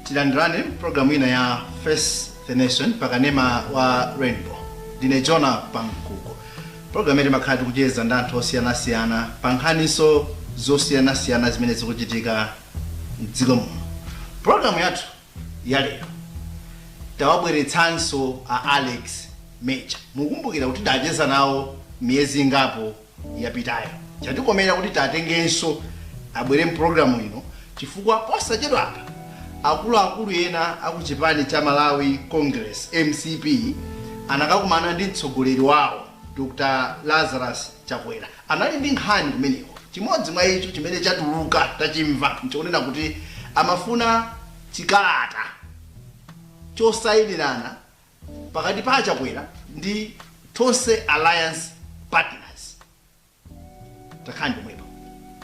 tilandirane programu ina ya face the nation pakanema wa rainbow ndine jona pankuku programu imene timakhala tikucheza ndi anthu osiyanasiyana pa nkhaninso zosiyanasiyana zimene zikuchitika mdziko muno programu yathu ya lero tawabweretsanso a alex major mukumbukira kuti tidacheza nawo miyezi ingapo yapitayo chatikomera kuti tatengenso abwere mpulogalamu ino chifukwa posachedwa apa akuluakulu ena akuchipani cha malawi congress mcp anakakumana ndi mtsogoleri wawo dr lazarus chakwera anali ndi nkhani kumeneko. Chimodzi mwa icho chimene chatuluka, tachimva, nchonena kuti amafuna chikalata chosayinirana pakati pa a Chakwera ndi Tonse Alliance Partners. Takhalani pomwepa.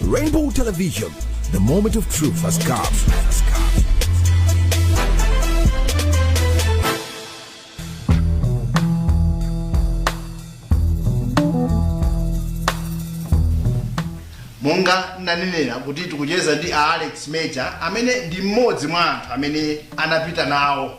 Rainbow Television, the moment of truth has come. monga ndanenera kuti tikucheza ndi a alex major amene ndi mmodzi mwa anthu amene anapita nawo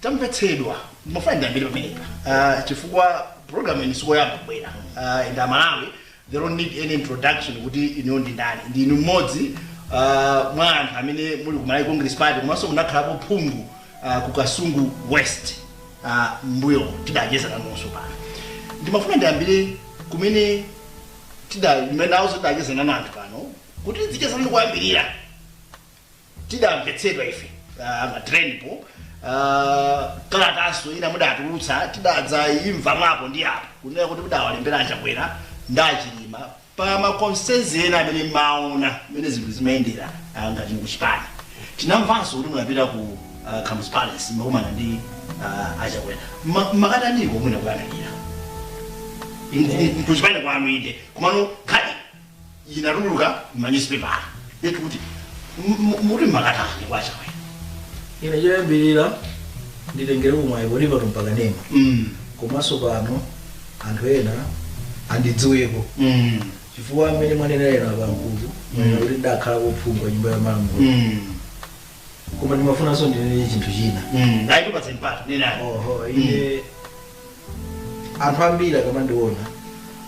tamvetsedwa ndimafuna ndiyambire pamenepa uh, chifukwa program ino sikoyamba kubwera uh, and amalawi they don't need any introduction kuti inuyo ndi ndani ndi inu mmodzi uh, mwa anthu amene muli ku malawi congress party komanso munakhalapo phungu uh, ku kasungu west uh, mmbuyo tidacheza nanunso pano ndimafuna ndiyambire kumene tidaimene nawo tidacheza nanu anthu pano kuti tizicheza nanu kuyambirira tidamvetsedwa ife ah, ma trendpo ah, kalataso ina mudatulutsa tidadza imva mwapo ndi apo kunena kuti mudawalembera achakwera ndi achilima pa makonsenzi ena amene mmaona mmene zinthu zimayendera ah, ngati mukuchipani tinamvanso kuti munapita ku ah, Kamuzu Palace mmakakumana ndi ah, achakwera Ma- makataniko mwina kuyamikira kuchipani kwanu inde komano khadi inatuluka m'manyuzipepala yeti kuti mu- mu- muti mmakatani kwa achakwera ine choyambirira nditengere umwayi kuti pano mpakanema Mm, komanso pano anthu ena andidziweko mm, chifukwa mmene mwanenera pankuku mwanena kuti ndakhalako phungu wa nyumba ya malamulo mm, koma ndimafunanso ndinene chinthu china mm. Ayi, ndipatse mpata nenani oho ine anthu ambiri akamandiona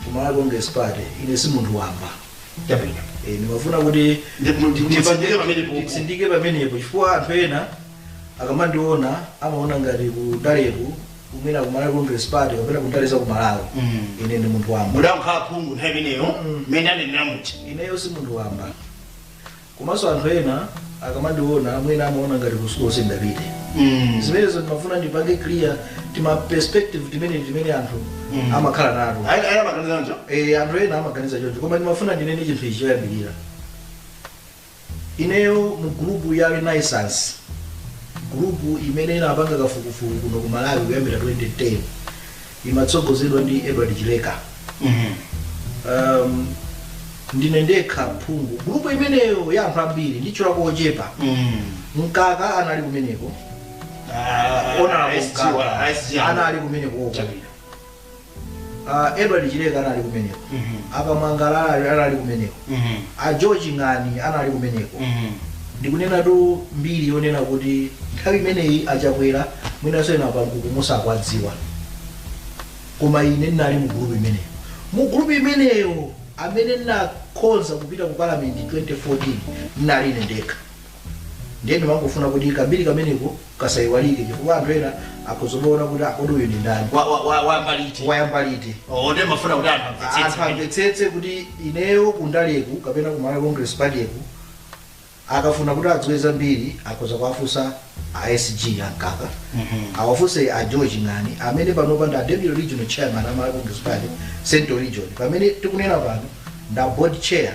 ku malawi congress party ine si munthu wamba chabwino Eh, ndimafuna kuti Ndi- mu- ndi- mutsindike pamenepo. nditsindike pamenepo chifukwa anthu ena akamandiona amaona ngati kundaleku kumene ku malawi congress party kapena kundale za ku malawi Mm. ine ndi munthu wamba mudakhala phungu nthawi imeneyo mmene anenera muja ineyo si munthu wamba Komanso anthu ena akamandiona mwina amaona ngati ku school sindapite. Mm. Zimenezo ndimafuna ndipange clear tima perspective timene timene anthu Mm. amakhala nato. Ayi ayi amaganiza choncho. Eh, anthu ena amaganiza choncho koma ndimafuna ndinene chinthu ichi choyambirira ineyo mu gulupu ya renaissance gulupu imene inapanga kafukufuku kuno ku malawi kuyambira 2010 imatsogozedwa ndi edward chileka um, ndine ndekha phungu gulupu imeneyo ya anthu ambiri nditchulako ochepa mkaka anali kumeneko ona mkaka anali kumeneko oko uh, edward chileka anali kumeneko akamwangala anali kumeneko A George Ng'ani anali kumeneko. Ndikunenatu mbiri yonena kuti nthawi imeneyi a Chakwera mwinanso ena pa nkhukumu sakwadziwa. Koma ine ndinali mu group imeneyo. Mu group imeneyo amene ndinakhonza kupita ku parliament 2014 ndinali ine ndekha. Ndiye ndimangofuna kuti kambiri kameneko kasaiwalike chifukwa anthu ena akhoza kumaona kuti akodi uyu ndi ndani Wa- wa- wa- wayamba liti wayamba liti ndimafuna kuti anthu anthu amvetsetse amvetsetse kuti ineyo kundaleku kapena ku malawi congress partyku akafuna kuti adziwe zambiri akhoza kuwafunsa a sg a mkaka awafunse a george ng'ani amene panopa ndi a deputy regional chairman a malawi congress party central region pamene tikunena pano nda board chair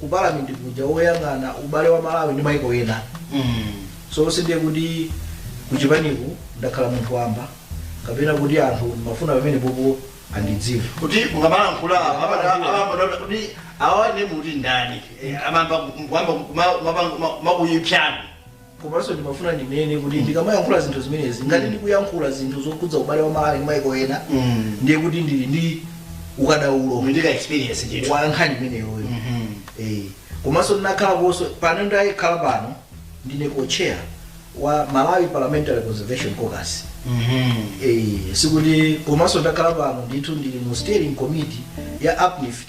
ku parliament kuja woyang'ana ubale wa malawi ndi maiko ena so sindiye kuti kuchipaniku ndakhala munthu wamba kapena kuti anthu ndimafuna pamenepopo andidziwe kuti mukamalankhula amambododa kuti awa ndi muti ndani amamba kumapuyipsana komanso ndimafuna ndinene kuti ndikamayankhula zinthu zimenezi ngati ndikuyankhula zinthu zokhudza ubale wa malawi ndi maiko ena Mm. ndiye kuti ndili ndi ukadaulo Muli ndi ka experience ndithu. wa nkhani imeneyoyo Mhm. Eh, komanso ndinakhalakonso pano ndakhala pano ndine co-chair wa malawi parliamentary conservation caucus Mhm. Eh, sikuti komanso ndakhala pano ndithu ndili mu steering committee ya uplift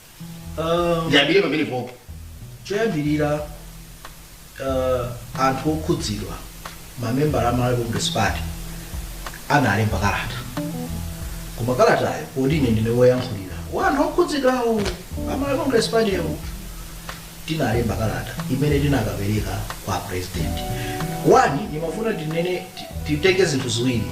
Um, ndiyambire pamenepopo choyambirira uh, anthu okhudzidwa mamembala a malawi congress party analemba kalata koma kalatayo poti ine ndine woyankhulira wa anthu okhudzidwawo a malawi congress party yo tinalemba kalata imene tinakapereka kwa president wani ndimafuna tinene ti- titenge zinthu ziwiri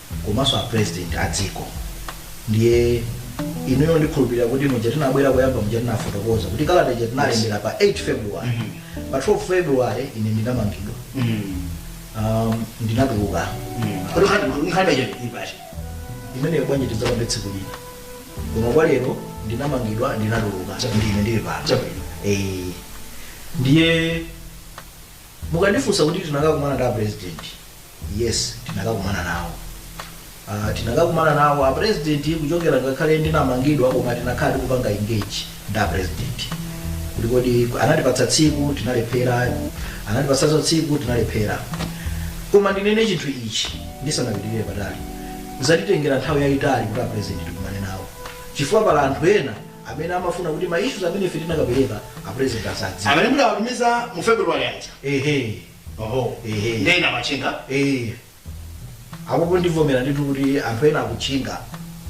komanso a president a dziko ndiye inuyo ndikhulupirira kuti muja tinabwera kuyamba muja tinafotokoza kuti kalata ija tinalembera pa 8 february pa 12 february ine ndimamangidwa um, ndinatuluka Kodi nkhani- nkhani ija ili pati? imeneyo bwanji tidzakambe tsiku lina koma kwa lero ndinamangidwa ndinatuluka ndine ndili pano Chabwino. Eh, ndiye mukandifunsa kuti tinakakumana ndi a president Yes, tinakakumana nawo. Uh, tinakakumana nawo a president kuchokera ngakhale ndinamangidwa koma tinakhala tikupanga engage ndi a president. Kuti kodi anatipatsa tsiku tinalephera, anatipatsanso tsiku tinalephera. Koma ndinene chinthu ichi ndisanapitirire patali. Zatitengera nthawi yayitali kuti a president tikumane nawo. Chifukwa pali anthu ena amene amafuna kuti ma issues amene ife tinakapereka a president asadziwe. amene mudawatumiza mu february aja Ehe. oho Ehe. ndiye ena amatchinga Eh, apopo ndivomera ndithu kuti anthu ena akutchinga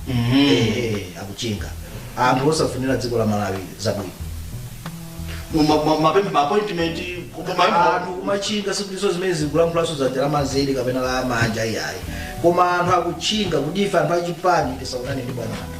Eh, akutchinga anthu osafunira dziko la malawi zabwino mapempho maappointment anthu kumatchinga sikutinso zimenezi ndikulankhulanso dzanja la manzere kapena la manja iyayi koma anthu akutchinga kuti ife anthu achipani tisaonane ndi bwana anthu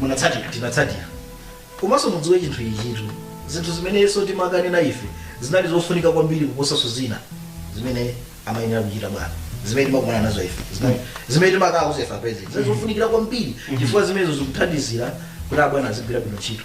munatsatira tinatsatira komanso mudziwe chinthu ichitu zinthu zimenenso timakanena ife zinali zofunika kwambiri kuposanso zina zimene amayenera kuchita bwana zimene timakumana nazo ife Zimene- zimene timakauza ife a president zimene zofunikira kwambiri chifukwa zimenezo zikuthandizira kuti abwana azigwira bwino ntchito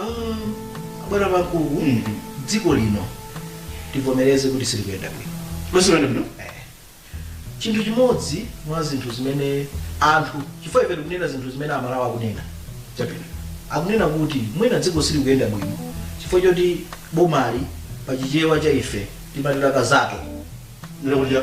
Ah, bwana Banda dziko lino tivomereze kuti silikuyenda bwino Lo- silikuyenda bwino. chinthu chimodzi mwa zinthu zimene anthu chifukwa ife tikunena zinthu zimene amalawi akunena Chabwino. akunena kuti mwina dziko silikuyenda bwino chifukwa choti bomali pa chichewa cha ife timati lakazato Ndikuja.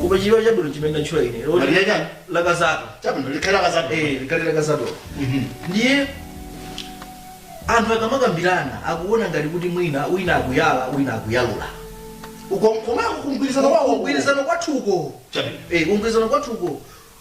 koma chichewa chabwino chimene ndatchula ine loti lili chani? lakazato Chabwino likali lakazato. eh likali lakazato Mhm. ndiye anthu akamakambirana akuona ngati kuti mwina wina akuyala wina akuyalula Uko koma kugwirizana kwawo. kugwirizana kwathuko Chabwino. eh kugwirizana kwathuko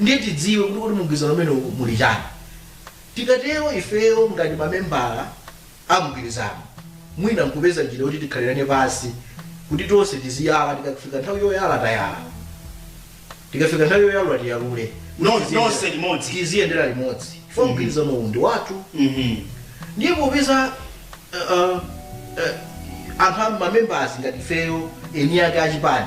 Ndiye tidziwe kuti kodi mumgwirizano umenewu muli chani. Tikatero ifeyo ngati mamembala a mgwirizano mwina nkupeza njira yoti tikhalirane pansi kuti tonse tiziyala tikafika nthawi yoyala tayala tikafika nthawi yoyalula tiyalule No- Tiziyendera- nonse limodzi. tiziyendera limodzi chifukwa mgwirizano uwu ndi wathu Mhm. ndiye popeza uh, uh, uh, anthu ma members ngati ifeyo eni ake achipani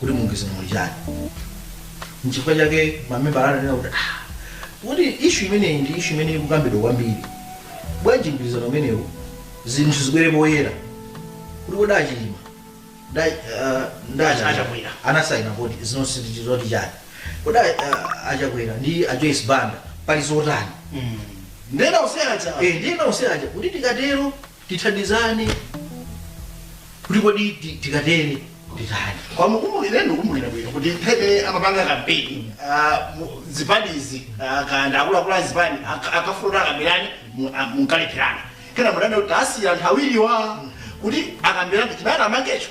kuti mumgwirizano muli chani nchifukwa chake mamembala ananena kuti "Ah, kuti issue imeneyi ndi issue imene ikukambidwa kwambiri bwanji mgwirizano umenewu zinthu zibwere poyera kuti kodi achilima nda- ah, nda- Acha- achakwera anasayina kuti zinonse ndi zoti chani kodi ah, achakwera ndi a Joyce Banda pali zotani ndena useacha Eh, ndiyena useaja kuti tikatero tithandizane kuti kodi ti- tikatere titani kwa mukumbukire ndikumbukira bwino kuti pamene amapanga kampeni ah, mu- zipanizi ah, kaya akuluakulu a zipani ak- akafuna akambirane mu- ah, munkalepherana kenaka mudati kuti asiya anthu awiriwa kuti akambirane chibata amangecho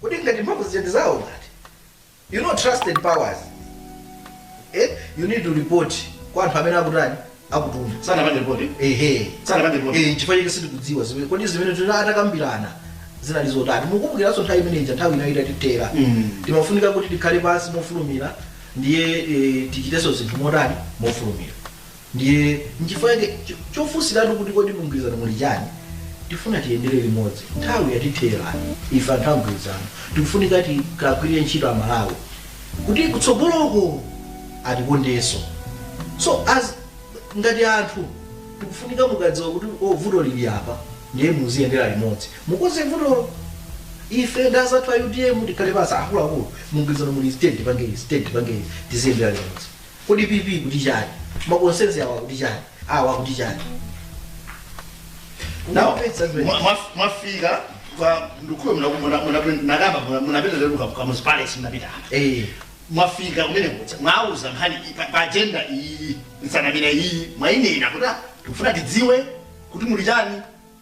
Kodi ngati mphamvu zija ndi zawo ngati? You know entrusted powers. Eh, you need to report kwa anthu amene akutani? Akutuma. Sanapange report. Ehe. Sanapange report. Eh, chifukwa chake sitikudziwa kuti kodi zimene atakambirana zinali zotani. Mukumbukiranso nthawi imene ija nthawi inali itatithera. Mm. Timafunika kuti tikhale pansi mofulumira ndiye eh, tichitenso zinthu motani mofulumira. ndiye nchifukwa chake cho- chofunsiratu kuti kodi mumgwirizano muli chani tifuna tiyendere limodzi nthawi yatithera ife anthu amgwirizano tikufunika tikagwirire ntchito amalawi kuti kutsogoloko atikondenso so as ngati anthu tikufunika mukadziwa kuti o vuto lili apa ndiye muziyendera limodzi mukonze vutolo ife ndazathu a utm tikhale pansi akuluakulu mumgwirizano muli state pangeli state pangeli tiziyendera limodzi Kodi PP ikuti chani? Ma concerns awo akuti chani? Awa akuti chani? Now, Kumvetsa zimene- mwa- mwa- mwafika kwa mkuluyo munakamba munapita lero ku Kamuzu Palace munapita Eh, mwafika kumene kuti mwauza nkhani iyi, pa- pa agenda iyi nsanamira iyi mwainena kuti tikufuna tidziwe kuti muli chani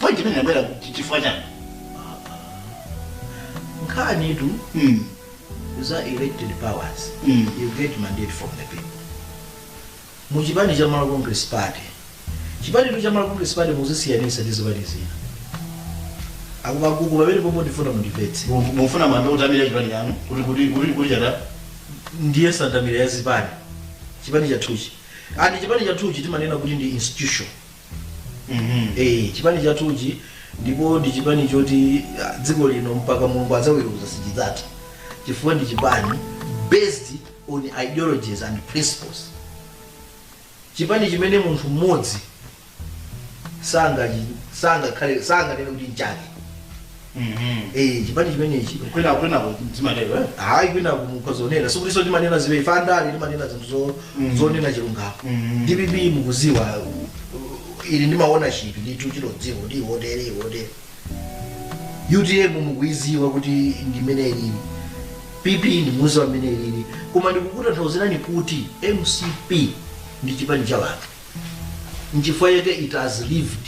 Point imene inabwera kuti chifukwa chani? nkhanitu Mm. za entrusted powers Mm. you get mandate from the people mu chipani cha malawi congress party chipanitu cha malawi congress party muzisiyanisa ndi zipani zina akumagugu pamene pomwe ndifuna mundimvetse Mu- Mufuna muyambe kutamira chipani chanu kuti kuti kuti kuti chata. ndiye nsanamira ya zipani chipani chathuchi ati chipani chathuchi timanena kuti ndi institution Mhm. Eh, chipani chathuchi ndipo ndi chipani choti ah, dziko lino mpaka mulungu adzaweruza sichidzatha chifukwa ndi chipani based on ideologies and principles chipani chimene munthu mmodzi sangachi- sangakhale sanganene kuti nchake Eh, chipani chimenechi kwina kwina zimatero eh? hayi kwina mukhoza kunena sikutinso timanena zabodza ife andale timanena zinthu zo- Mhm. zonena chilungamo Mhm. dpp mukuidziwa uh, ili ndi ownership ndithu timadziwa kuti ndi wotere wotere utm mukuidziwa kuti ndi mmene ilili pp mukuidziwa mmene ilili koma ndikukutanthauzirani kuti mcp ndi chipani cha wanthu nchifukwa chake it has lived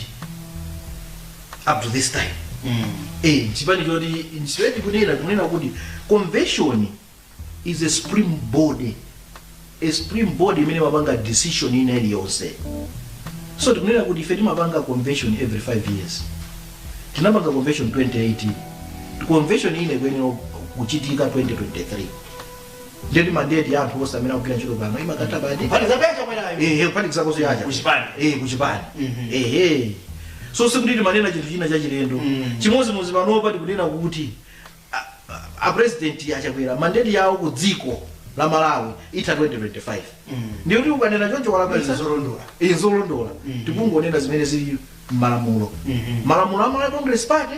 up to this time Mm. eh chipani choti nchifwedi kunena kunena kuti convention is a supreme body a supreme body imene imapanga decision ina iliyonse so tikunena kuti ife timapanga convention every 5 years tinapanga convention 2018 convention ina ikuyenera kuchitika 2023 Ndiye kuti mandate ya anthu onse amene akugwira ntchito pano imakatha pati. Kuphatikizapo ya Chakwerayo. Ehe, kuphatikizapo zoyayo. Kuchipani. Eh, kuchipani. Mhm. Ehe. So sikuti timanena chinthu china chachilendo. Mm. Chimodzimodzi panopa tikunena kuti a- a- a president a Chakwera mandate yawo ku dziko la Malawi itha 2025. Mm. Ndiye kuti ukanena choncho walakwitsa. Zolondola. Izi zolondola. Mm. Tikungonena zimene zili m'malamulo. Mhm. Malamulo a Malawi Congress Party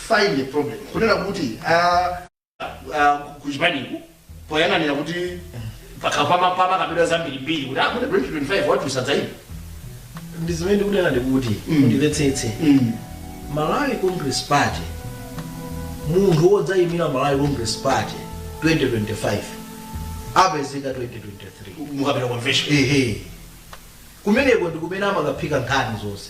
find a problem kunena kuti ah, ah, ku- ku chipaniku poyang'anira kuti pakapa mmakakamba zambirimbiri kuti akuti 2025 awa asadzaima ndi zimene ndikunena ndikuti mundimvetsetse Mm. malawi congress party munthu wodzayimira malawi congress party 2025 apezeka 2023 mukapita convention ehe kumeneko ndi kumene amakaphika nkhani zonse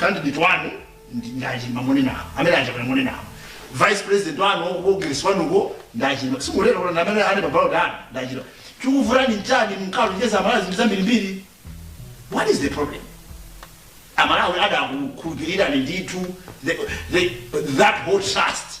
candidate wanu ndi- ndi achilima munenawo amene achakwera munenawo vice president wanu ku mgwirizano wanuko ndi achilima simulola kuti amene ali pa ballot anu ndi achilima chikuvutani nchani munalonjeza amalawi zinthu zambirimbiri what is the problem amalawi adakukhulupirirani ndithu the- the- that whole trust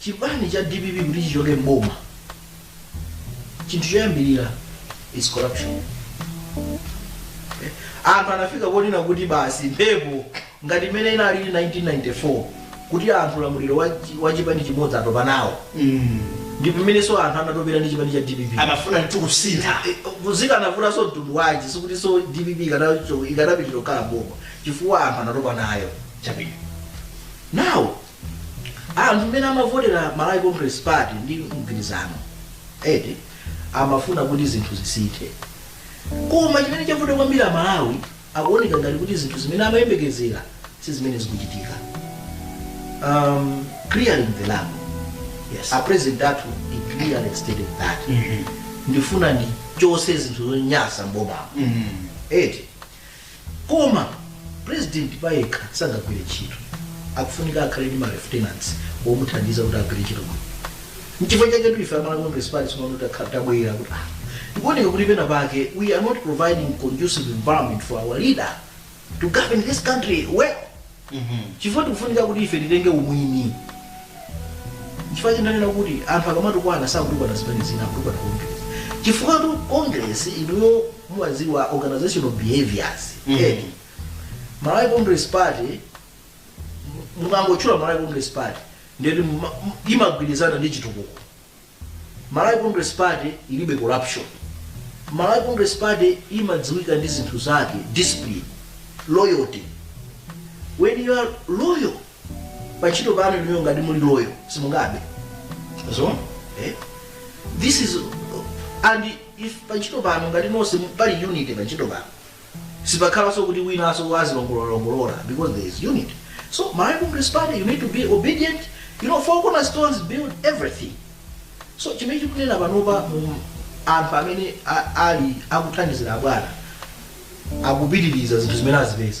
chipani cha dpp kuti chichoke mboma chinthu choyambirira is corruption Eh, anthu anafika ponena kuti basi mphepo ngati imene inali 1994 kuti anthu ulamuliro wa chi- wa chipani chimodzi atopa nawo ndi pamenenso anthu anatopera ndi chipani cha dpp amafuna kuti kusintha kudzika anavutanso mtundu wanji sikuti so dpp ikanacho- ikanapitira kukhala boma chifukwa anthu anatopa nayo chabwino nawo anthu mmene amavotera malawi congress party ndi mgwirizano eti amafuna kuti zinthu zisinthe koma chimene chavuta kwambiri amalawi akuoneka ngati kuti zinthu zimene amayembekezera si zimene zikuchitika um, clearing the rubble Yes. a president athu he clearly stated that ndifuna ndichotse zinthu zonyasa mbomamo eti koma president payekha sangagwire ntchito akufunika akhale ndi ma lieutenants omuthandiza kuti agwire ntchito bwino nchifukwa chake tu ife amalawi congress party tsono tabwera kuti ah, tikuoneka kuti pena pake we are not providing conducive environment for our leader to govern this country well chifukwa tikufunika kuti ife titenge umwini chifukwa chonena kuti anthu akamatukwana sakutukwana zimene zina akutukwana congress chifukwa tu congress inuyo mumadziwa organizational behaviors Mhm. eti malawi congress party mukangotchula malawi congress party ndiye kuti muma- m- imagwirizana ndi chitukuko Malawi Congress Party ilibe corruption. Malawi Congress Party imadziwika ndi zinthu zake, discipline, loyalty. When you are loyal, pa ntchito pano inuyo ngati muli loyal, simungabe. So, eh? This is and if pa ntchito pano ngati nonse pali unity pa ntchito pano sipakhalanso kuti winanso azilongololongolola because there is unity so malawi congress party you need to be obedient you know four cornerstones build everything so chimene tikunena panopa anthu amene a- ali akuthandizira abwana akupitiriza zinthu zimene azipeza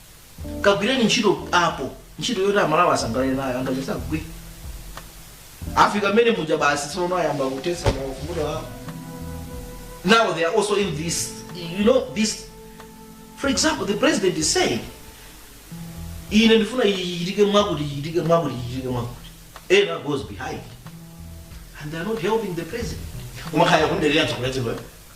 kagwireni ntchito apo ntchito yoti amalawi asangalale nayo akanika kugwira afika mmene muja basi tsono ayamba kutesa mavuto awo now they are also in this you know this for example the president is saying ine ndifuna ichitike mwakuti ichitike mwakuti ichitike mwakuti ena goes behind and they are not helping the president kumakhala kulekerera tsokoletsero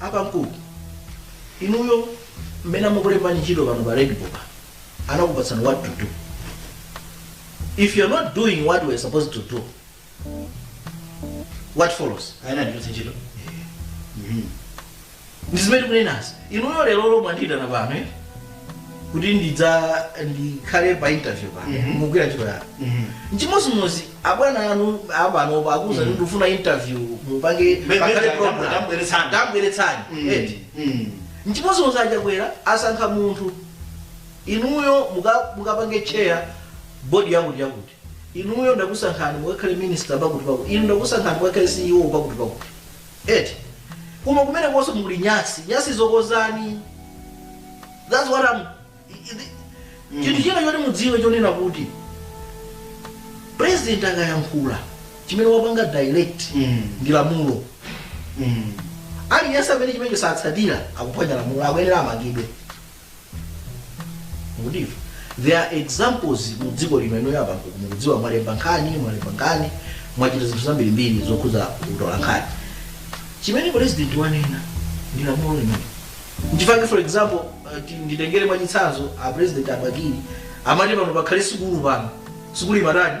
apa mkulu inuyo mmene amakulembani ntchito pano pa Rainbow anakupatsani what to do if you're not doing what you're supposed to do what follows iwo anandipatsa ntchito ndizimene ndikunenazi inuyo lero lomwe mwandiyitana pano eh? kuti ndidze ndikhale pa interview pa Mhm. mugwira ntchito yanu Mhm. nchimodzimodzi abwana anu apanopo akuuzani kuti ndifuna interview mupange Me- me- pakhale ndam- program. ndambweretsani. ndambweretsani Mm. eti Mm. nchimodzimodzi achakwera asankha munthu inuyo muka- mukapange chair bodi yakuti yakuti inuyo ndakusankhani mukakhale minister pakuti pakuti inu ndakusankhani mukakhale ceo pakuti pakuti eti koma kumenekonso muli nyasi nyasizo kozani thats what I'm, chinthu china choti mudziwe chonena kuti president akayankhula chimene wapanga direct Mm. ndi lamulo Mm. aliyense amene chimenecho sakutsatira akuphwanya lamulo akuyenera amangidwe Mukudziwa? There are examples mu dziko lino lino apa mukudziwa mwalemba nkhani, mwalemba nkhani, mwachita zinthu zambirimbiri zokhuza kutola nkhani. Chimene president wanena ndi lamulo limenelo. Nchifukwa for example, uh, ti- nditengere mwachitsanzo a president a Bakili amati pano pakhale sukulu pano. Sukulu imatani?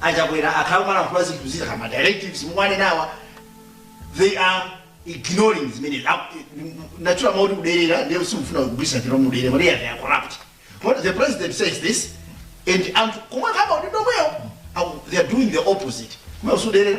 a Chakwera akhala akumalankhula zinthu zina ngati ma directives mukuwanenawa they are ignoring zimene ndatchula mawu oti kuderera ndiye sindikufuna kugwiritsa ntchito mudere kuti they are corrupt but the president says this and anthu kumwe kumakhala kuti domweyo aku- they are doing the opposite kumwe ndi kuderera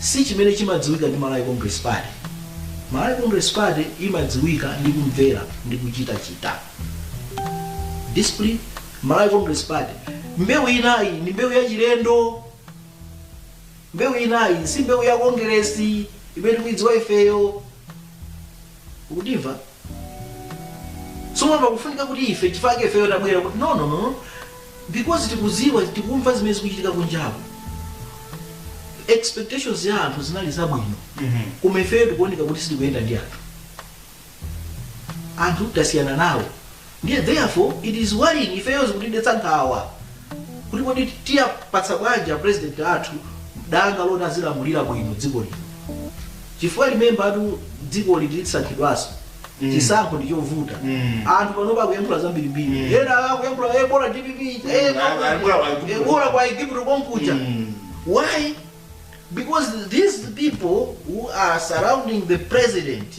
si chimene chimadziwika ndi Malawi Congress Party. Malawi Congress Party imadziwika ndi kumvera ndi kuchita discipline. Malawi Congress Party mbewu inayi ndi mbewu ya chilendo, mbewu inayi si mbewu ya kongeresi imene tikuidziwa ifeyo, mukundimva? Tsopano pakufunika kuti ife chifukwa chake ifeyo tabwera kuti no no no no. because tikuziwa tikumva zimene zikuchitika kunjaku expectations ya anthu zinali zabwino koma ifeyo tikuoneka kuti sitikuyenda ndi anthu anthu tasiyana nawo Ndiye therefore it is worrying ifeyo zikutidetsa nkhawa kuti kodi tiapatsa bwanji a president athu danga loti azilamulira bwino dziko lino chifukwa remember tu dzikoli tidzasankhidwanso chisankho ndi chovuta anthu panopa akuyankhula zambirimbiri ena akuyankhula eh, bola dpp eh, Mm, bola- ah, bola kwa Igupto. eh, bola kwa igupto komkuja why because these people who are surrounding the president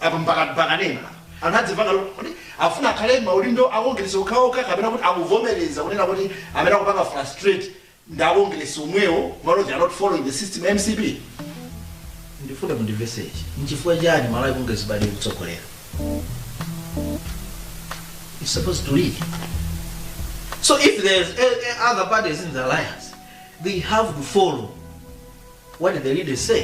Apa mukamanena apa anthu azimva kuti akufuna akhale m'maudindo a Congress okhaokha kapena kuti akuvomereza kunena kuti amene akupanga frustrate ndi a Congress omwewo m'malo they are not following the system ya mcp ndifuna mundimvese ichi nchifukwa chani malawi congress party ikutsogolera is supposed to lead so if there's eh, eh, other parties in the alliance they have to follow what the leaders say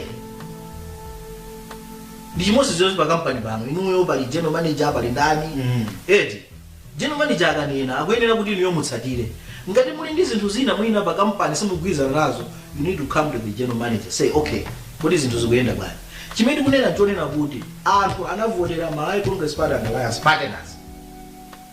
ndi chimodzimodzinso pa kampani pano inuyo pali general manager pali ndani Mm. eti general manager akanena akuyenera kuti inuyo mutsatire ngati muli ndi zinthu zina mwina pa kampani simugwirizana nazo you need to come to the general manager say okay kodi zinthu zikuyenda bwanji chimene tikunena nchonena kuti anthu anavotera malawi congress party and alliance partners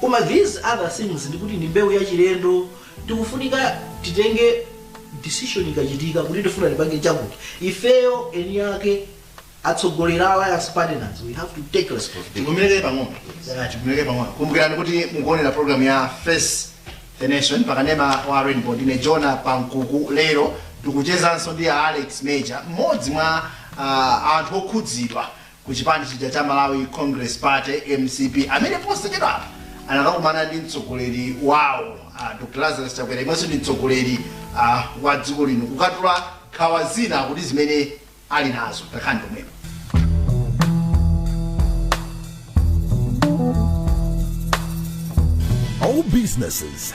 Koma these other things ndi kuti ndi mbewu ya chilendo tikufunika titenge decision ikachitika kuti tifuna tipange chakuti ifeyo eni ake atsogolera alliance partners we have to take responsibility tidumulize pang'ono Yeah, tidumulize pang'ono kumbukirani kuti mukuonera program ya face the nation pakanema wa rainbow ndine jona pankuku lero tikuchezanso ndi a alex major mmodzi mwa ah, anthu okhudzidwa ku chipani chija cha Malawi Congress Party mcp amene posachedwapa anakakumana ndi mtsogoleri wawo uh, Dr. Lazarus Chakwera imwenso ndi mtsogoleri uh, wa dziko lino kukatula nkhawa zina akuti zimene ali nazo takhalani pomwepo All businesses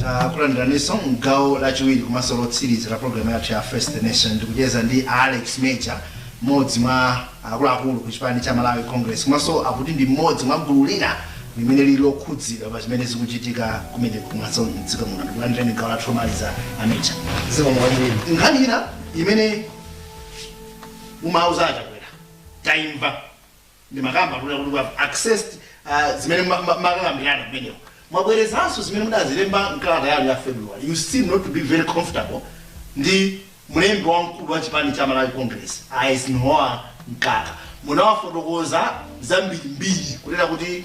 takulandiraninso mgawo lachiwiri komanso lotsiriza la programu yathu ya face the nation ndikucheza ndi alex major mmodzi mwa akuluakulu ku chipani cha malawi congress komanso akuti ndi mmodzi mwa gulu lina limene lili lokhudzidwa pa zimene zikuchitika kumene komanso mdziko muno takulandirani gawo lathu lomaliza a major zikomo kwambiri nkhani ina imene munauza achakwera taimva ndimakamba kuti kuti we have accessed uh, zimene ma- ma- munakambirana kumeneko mwabwerezanso zimene mudazilemba mkalata yanu ya february you seem not to be very comfortable ndi mlembi wamkulu wa chipani cha malawi congress eisenhower mkaka munawafotokoza zambirimbiri kunena kuti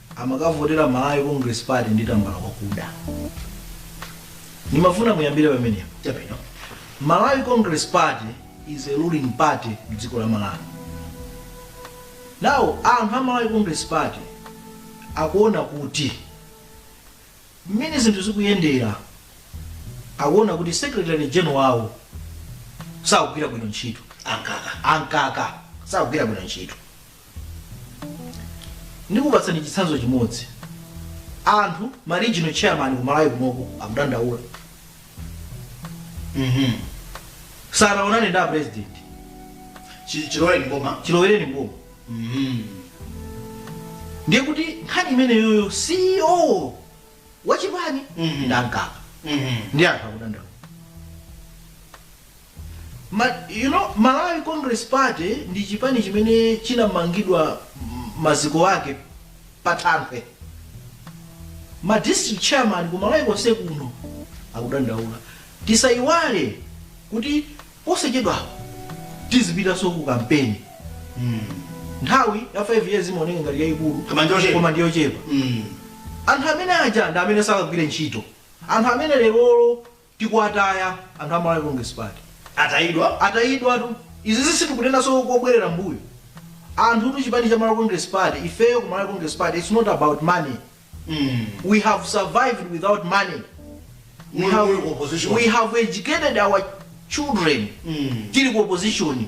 amakavotera Malawi Congress Party ndi tambala wakuda. Ndimafuna muyambire pamenepo. Chabwino. Malawi Congress Party is a ruling party mdziko la Malawi. Now anthu a Malawi Congress Party akuona kuti mmene zinthu zikuyendera akuona kuti secretary general wawo sakugwira bwino ntchito a Mkaka a Mkaka sakugwira bwino ntchito ndikupatsani chitsanzo chimodzi anthu ma regional chairman ku malawi kunoko akudandaula Mhm. sanaonane ndi a president Chi- chilowere ndi boma chilowereni mboma Mhm. ndiye kuti nkhani imeneyoyo ceo wachipani Mhm. ndi a mkaka Mhm. ndi anthu akudandaula Ma, you know, Malawi Congress Party ndi chipani chimene chinamangidwa maziko ake pa thanthwe. Ma district chairman ku Malawi konse kuno akudandaula. Tisaiwale kuti posachedwapa tizipitanso ku kampeni. Mm. Nthawi ya 5 years imaoneka ngati yaikulu koma ndi yochepa. Mm. Anthu amene aja ndi amene adzakagwire ntchito. Anthu amene lerolo tikuwataya anthu a Malawi Congress Party atayidwa atayidwatu izi sitikunenanso kubwerera mbuyo anthutu chipani cha Malawi Congress Party ifeyo ku Malawi Congress Party it's not about money mm. we have survived without money we have, we have educated our children mm. tili ku opposition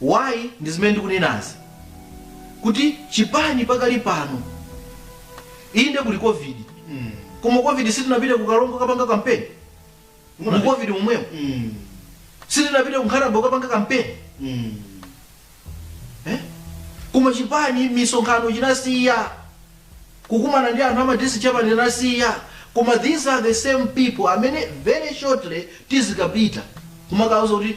Why ndi zimene ndikunenazi kuti chipani pakali pano inde kuli covid koma covid sitinapita ku karonga kukapanga kampeni mu covid momwemo sitinapita ku nkhatabay kukapanga kampeni eh? koma chipani misonkhano chinasiya kukumana ndi anthu ama district chairman chinasiya koma these are the same people amene very shortly tizikapita kumakauza kuti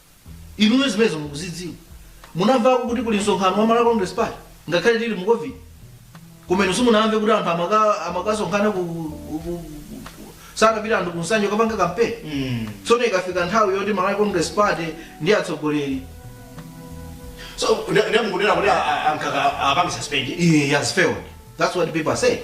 Inuyo zimenezo mukuzidziwa? Munamvako kuti kuli msonkhano wa Malawi Congress Party ngakhale tili mu Covid? Koma inu simunamve kuti anthu amaka amakasonkhana ku, ku, ku, ku sakupita anthu ku Nsanje kapanga kampeni? Mm. Tsono ikafika nthawi yoti Malawi Congress Party ndi atsogoleri So, nde- nde mukunena kuti a- a- ankaka apange suspend. he has failed. That's what people are saying.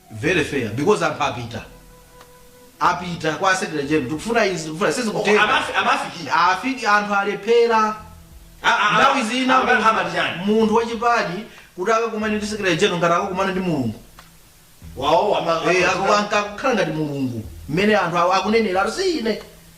very fair because anthu apita apita kwa secretary general tikufuna izi tikufuna izi Oko, kutheka amafi- amafikira. safika anthu alephera Ah, ah, ah, nthawi zina ah, ah, ah, chani? munthu wachipani kuti akakumane ndi secretary general ngati akakumana ndi mulungu Wawo, ama- Eh, ama- ako- anka- akukhala ngati mulungu mmene anthu awo akunenera ati si ine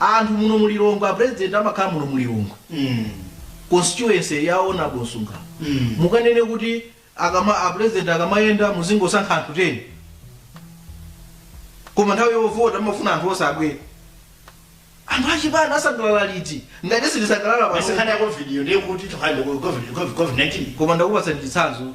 Anthu muno mu Lilongwe a president amakhala muno mu Lilongwe constituency ya Hon Msungama. Mukanene kuti akama a president akamayenda muzingosankha anthu 10. Koma nthawi yovota amafuna anthu onse abwere. Anthu achipani asangalala liti? Ngati sitisangalala Basi pano. nkhani ya covid iyo ndiye kuti tikhale ku covid covid 19 Koma ndakupatsa chitsanzo.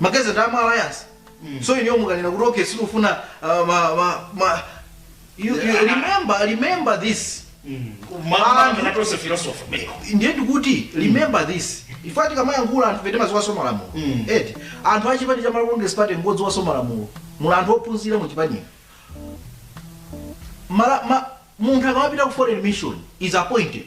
makadeti a mu alliance mm. so ineyo mukanena kuti okay sitifuna uh, ma, ma, ma, you, you remember, remember this mm. ndiye ndikuti remember this ife tikamayankhula anthu ife timadziwanso malamulo mm. eti anthu achipani cha Malawi Congress Party ngodziwanso malamulo muli anthu ophunzira mu chipanimo munthu akamapita ku foreign mission he's appointed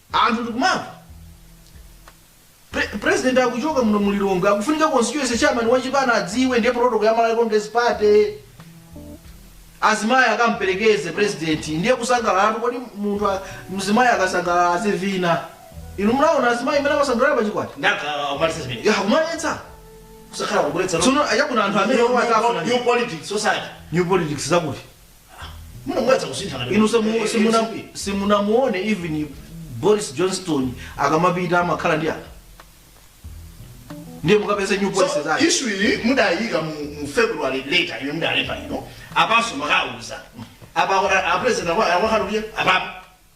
Anthu tikumamva pre president akuchoka muno mu Lilongwe akufunika constituency chairman wa chipani adziwe ndiye protocol ya Malawi Congress Party azimayi akamperekeze president ndiye kusangalalatu kodi munthu a- mzimayi akasangalala azivina inu munaona azimayi mmene amasangalala pa chikwati Ndaka kumaletsa zimene. ya kumaletsa Kusakhala kubweretsa. tsono ayabuna anthu amene omwe atafuna New politics society. new politics zakuti Mwina mwatsa kusinthana. inu simu- simuna- simunamuone even boris johnson akamapita amakhala ndi anthu ndiye mukapeze new policy So, zake issue iyi mudayika mu mu February later imene mudalemba ino apanso makauza apa a president akwa akakhale iye apa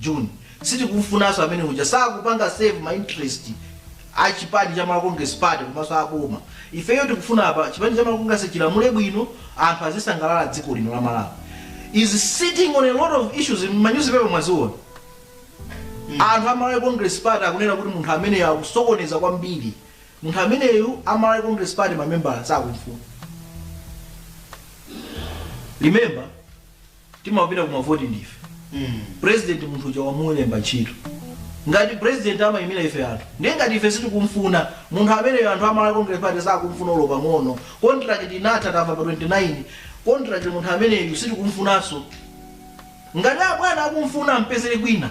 June. Sitikumfunaso amene uja sakupanga serve ma interest a chipani cha Malawi Congress Party komaso a boma. Ifeyo tikufuna apa chipani cha Malawi Congress chilamule bwino anthu azisangalala dziko lino la Malawi is sitting on a lot of issues mma newspaper mwaziona. Anthu a Malawi Congress Party akunena kuti munthu ameneyo akusokoneza kwambiri. Munthu ameneyu a Malawi Congress Party ma members sakumfuna. Remember. timapita kumavoti ndife president munthu uja wamulemba ntchito ngati president amayimira ife anthu ndiye ngati ife sitikumfuna munthu ameneyo anthu amalawi congress party sakumfuna olo pang'ono contract inatha tamva pa 29 contract munthu ameneyu sitikumfunanso ngati abwana akumfuna ampezere kwina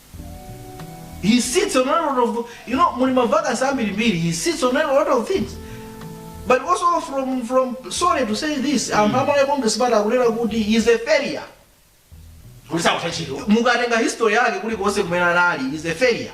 He sits on a lot of, you know, muli mavakasi ambirimbiri, he sits on a lot of things. But also from, from sorry to say this, anthu amalawi congress party akunena kuti he is a failure. kuti sakutha ntchito Mukatenga history yake kulikonse kumene anali, he is a failure.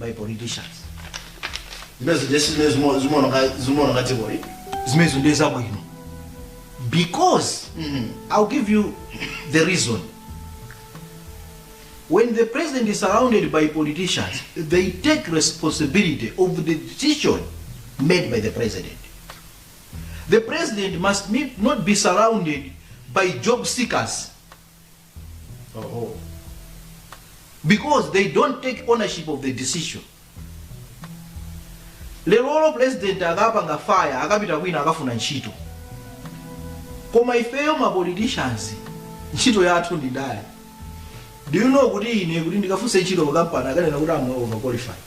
by politicians zimezo ndesi zimene zimo- zimaoneka zimaoneka dzikoli zimezo ndiye zabwino because i'll give you the reason when the president is surrounded by politicians they take responsibility of the decision made by the president the president must be, not be surrounded by job seekers Oho. because they don't take ownership of the decision lerolo president akapanga fire akapita kwina akafuna ntchito koma ifeyo ma politicians ntchito yathu ndi ndale do you know kuti ine kuti ndikafune ntchito ku kampani akanena kuti amwene overqualified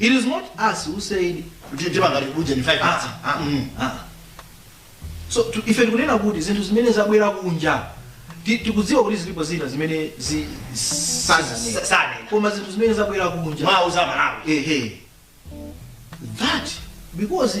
It is not us who said kuti mtima ngati kuja ni 5 ah, minutes ah, Mm. ah. so tu- ife tikunena kuti zinthu zimene zabwera kunja ti- tikudziwa kuti zilipo zina zimene zi- Sa- sananena sanena. koma zinthu zimene zabwera kunja mwauza amalawi ehe that because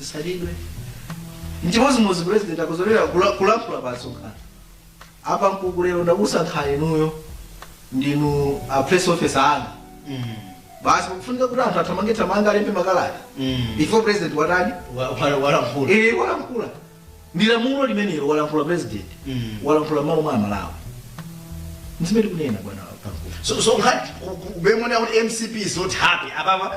zisalidwe mchimozimozi president akadzolera kula- kulankhula pa msonkhano a Pankuku lero ndakusankhani inuyo ndinu a press officer anga Mm. basi kufunika kuti anthu athamange thamanga alembe makalata Mm. before president watani Wa- wa- walankhula ili walankhula ndi lamulo limenelo walankhula president Mm. walankhula malo mwa amalawi ndizimene kunena bwana Pankuku. so so nkhani mukuona kuti mcp is not happy apapa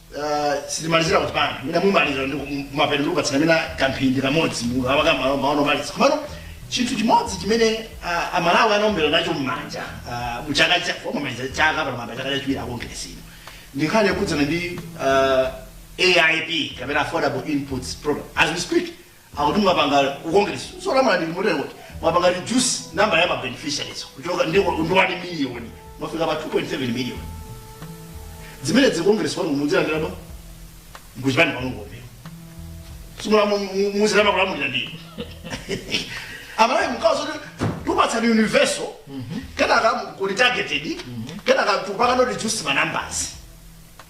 Ah, tisanamalize kuti pano mina mumaliza kumapeto ndikupatsana mina kamphindi kamodzi munthu amaka malo maganizo omaliza komano chinthu chimodzi chimene ah, amalawi anaombera nacho mmanja ah, mu chaka cha chomaliza chaka pano mamba chaka chachiwiri akongeresino ndi nkhani yokhudzana ndi ah, aip kapena affordable inputs program as we speak akuti mwapanga ku congress yolamula ndili motero kuti mwapanga reduce number ya ma beneficiaries kuchoka ndi ndi 1 million mwafika pa 2.7 million zimene dzi congress kwanu muzilandira bwa kuchipani kwanu ngombe simula muzilamula kulamulira ndiyo amalawi mkawa zoti tupatsani universal kenaka kuli targeted kenaka pakano reduce ma numbers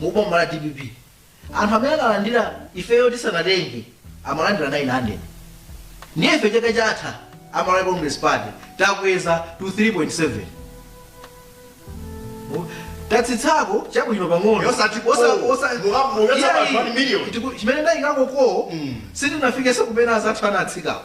mu boma la dpp anthu amene analandira ifeyo tisanatenge amalandira 900 ndiye ife chaka chatha amalawi congress party takweza to 3.7 Mu- tatsitsako chabwino pang'ono Yosati ko. Osa- osa- Muka- mukatsa Iyayi, pa 1 million. tiku- chimene ndayikako ko Mm. sitinafike zimene anzathu anatsikako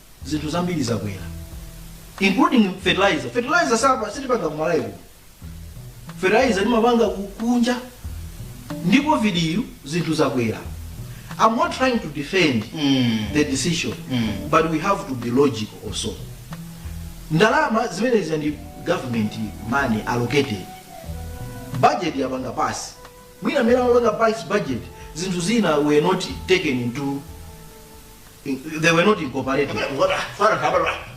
zinthu zambiri zakwera including fertilizer fertilizer sitipa sitipanga kumalawi kuno fertilizer timapanga ku- kunja ndi covid yi zinthu zakwera i'm not trying to defend Mm. the decision Mm. but we have to be logical also ndalama zimenezi ndi government money allocated budget yapanga pasi mwina amene amapanga pasi budget zinthu zina were not taken into they were not incorporated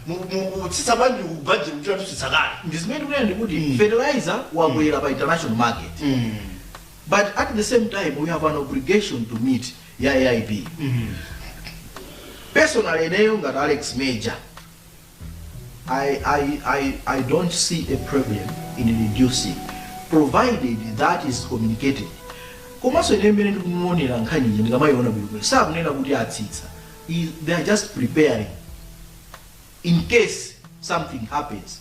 mukutsitsa bwanji ku budget kuchita kutsitsa kale ndizimene kunena ndikuti Mm. fertilizer wakwera pa international market but at the same time we have an obligation to meet ya aip personally ineyo ngati alex major I, I, I, I don't see a problem in reducing provided that is communicated komanso ine mmene ndikumaonera nkhaniyi ndikamayiona bwinobwino sakunena kuti atsitsa I- they are just preparing in case something happens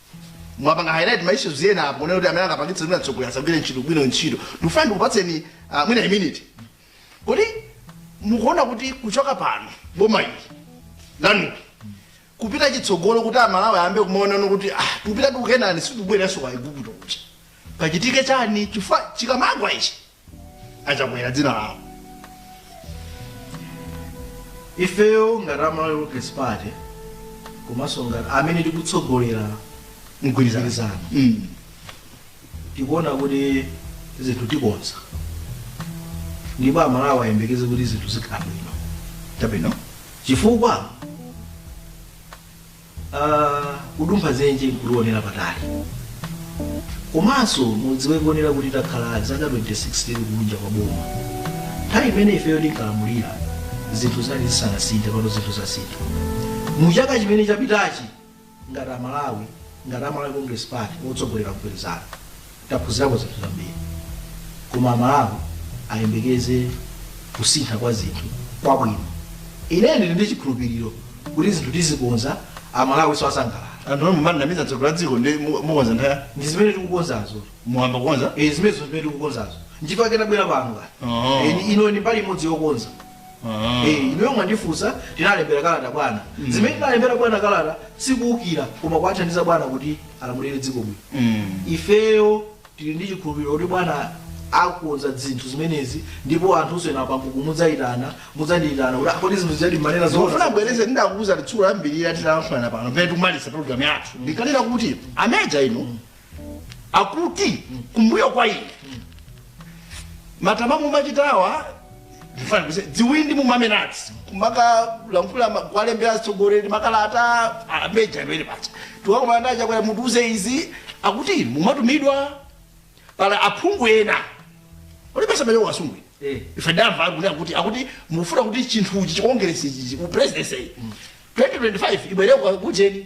mwapanga highlight ma issues ena apo munene kuti amene angapangitse kuti atsogoleri asagwire ntchito bwino ntchito ndikufuna ndikupatseni ah, mwina a minute kodi mukuona kuti kuchoka pano boma ili lanulo kupita chitsogolo kuti amalawi ayambe kumaonano kuti ah, tikupita ku kenani sitikubwereranso kwa igupto kuja pachitike chani chifukwa chikamagwa ichi chakwera dzina lawo ifeyo ngati a malawi congress party komanso ngati amene tikutsogolera mgwirizano mgwirizano Mm. tikuona kuti zinthu tikonza ndipo amalawi ayembekeze kuti zinthu zikhala bwino chabwino chifukwa kudumpha dzenje nkulionera patali komanso mudziwe kuonera kuti takhala zaka 26 tili kunja kwa boma nthawi imene ifeyo tinkalamulira zinthu zinali zisanasinthe pano zinthu zasintha mu chaka chimene chapitachi ngati amalawi ngati a malawi congress party otsogolera mgwirizano taphunzirako zinthu zambiri koma amalawi ayembekeze kusintha kwa zinthu kwabwino ine ndili ndi chikhulupiriro kuti zinthu tizikonza amalawinso asangalala anthu omwe mumanamiza mtsogoleri wa dziko ndi mu- mukonza nthawi yanji ndi zimene tikukonzazo muyamba kukonza Eh, zimenezo zimene tikukonzazo nchifukwa chake nabwera pano Oh. kani ino ndi mbali imodzi yokonza Eh, inuyo mwandifunsa tinalembera kalata bwana zimene tinalembera bwana kalata sikuukira koma kuwathandiza bwana kuti alamulire dziko bwino Mm. ifeyo tili ndi chikhulupiriro kuti bwana akonza zinthu zimenezi ndipo anthunso ena pambuku mudzayitana mudzandiyitana kuti akodi zinthu zijadi mmanena zofuna zoona bwereze ndidakuuza titsulo lambirira titalankhulana pano pene tikumaliza program yathu ndikanena kuti ameja inu akuti kumbuyo kwa ine matama mumachitawa ndifana kuse dziwindi mumamenatsi kumakalankhula ma- kuwalembera atsogoleri makalata ameja amene pacha tiwakomana ndi achakwera mutiuze izi akuti mumatumidwa pali aphungu ena olipesa mayo wasungwi Eh. ife tamva kuti akuti akuti mufuna kuti chinthuchi chikongeresi ichi ku presidency 2025 ibwereko kujeni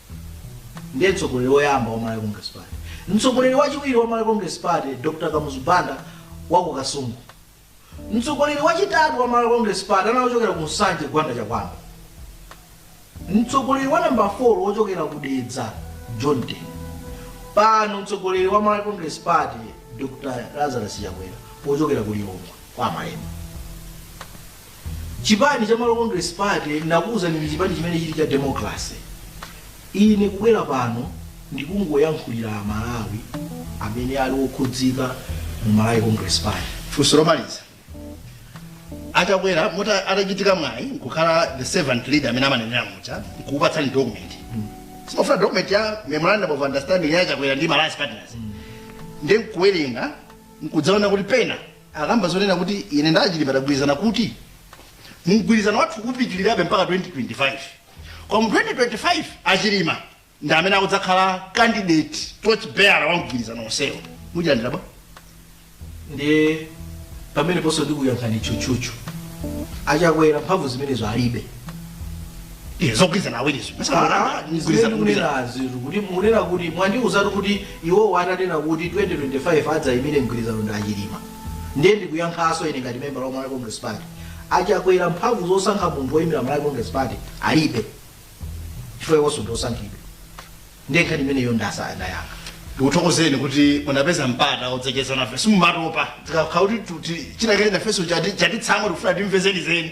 ndiye mtsogoleri woyamba wa malawi congress party mtsogoleri wachiwiri wa malawi congress party dr kamuzu banda wa ku kasungu mtsogoleri wachitatu wa malawi congress party anachokera ku nsanje gwanda chakuamba mtsogoleri wa namba 4 wochokera ku dedza john tembo pano mtsogoleri wa malawi congress party dr lazarus chakwera wochokera ku lilongwe kwa malembo Chipani cha Malawi Congress Party ndinakuuzani ndi chipani chimene chili cha democracy. Ine kubwera pano ndikungoyankhulira a Malawi amene ali okhudzika mu Malawi Congress Party. Funso lomaliza. Achakwera moti atachitika mwayi nkukhala the servant leader amene amanenera muja nkukupatsani document. Si mumafuna document ya memorandum of understanding ya Achakwera ndi ma alliance partners. Ndiye nkuwerenga nkudzaona kuti pena akamba zonena kuti ine ndi achilima tagwirizana kuti mgwirizano wathu upitirirabe mpaka 2025 koma mu 2025 achilima ndi amene akudzakhala candidate torch bearer wa mgwirizano onsewo muchilandira bwanji ndiye pameneponso ndikuyankhani tchutchutchu achakwera mphamvu zimenezo alibe Eh, zogwirizana awirizo Mgwirizana- mgwirizana. munerazi kuti munena kuti mwandiuzatu kuti iwowo atanena kuti 2025 adzayimire mgwirizano ndi achilima ndiye ndikuyankhanso ine ngati membala wa malawi congress party achakwera mphamvu zosankha munthu woyimira malawi congress party alibe chifukwa iwonso ndiosankhidwa ndiye nkhani imeneyo ndasa ndayankha ndikuthokozeni kuti munapeza mpata odzacheza nafe simumatopa tikakhala kuti tuti chinakene nafeso chatitsamo tikufuna timve zenizeni